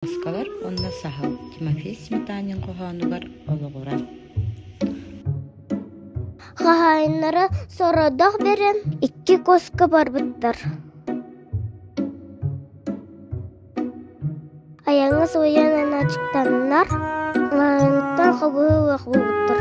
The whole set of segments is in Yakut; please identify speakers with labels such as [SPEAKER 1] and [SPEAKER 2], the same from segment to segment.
[SPEAKER 1] Муоскалар уонна саһыл Тимофей Сметанин хоһоонугар олоҕуран Хаһаайыннара сородох бэрэн икки куоска барбыттар. Айаҥас уйанан ачыктаннар, лаһыҥыттан хобуһу уох булбуттар.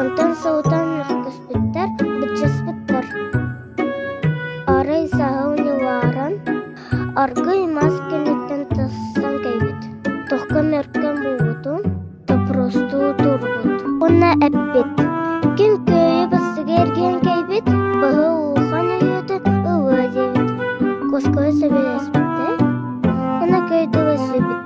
[SPEAKER 1] Онтон сылтан көспүттэр, быччаспыттар. Арай саһыл ньылааран аргыый мас кэнниттэн тахсан кэлбит. Тохкон-мөркөн буолбутун топоростуу турбут уонна эппит «Ким көөйө бастыга эргийэн кэлбит, быһы улахан өйөтүн ылыа» диэбит. Коско сөбүлэспиттэр уонна көөй тыл эсибит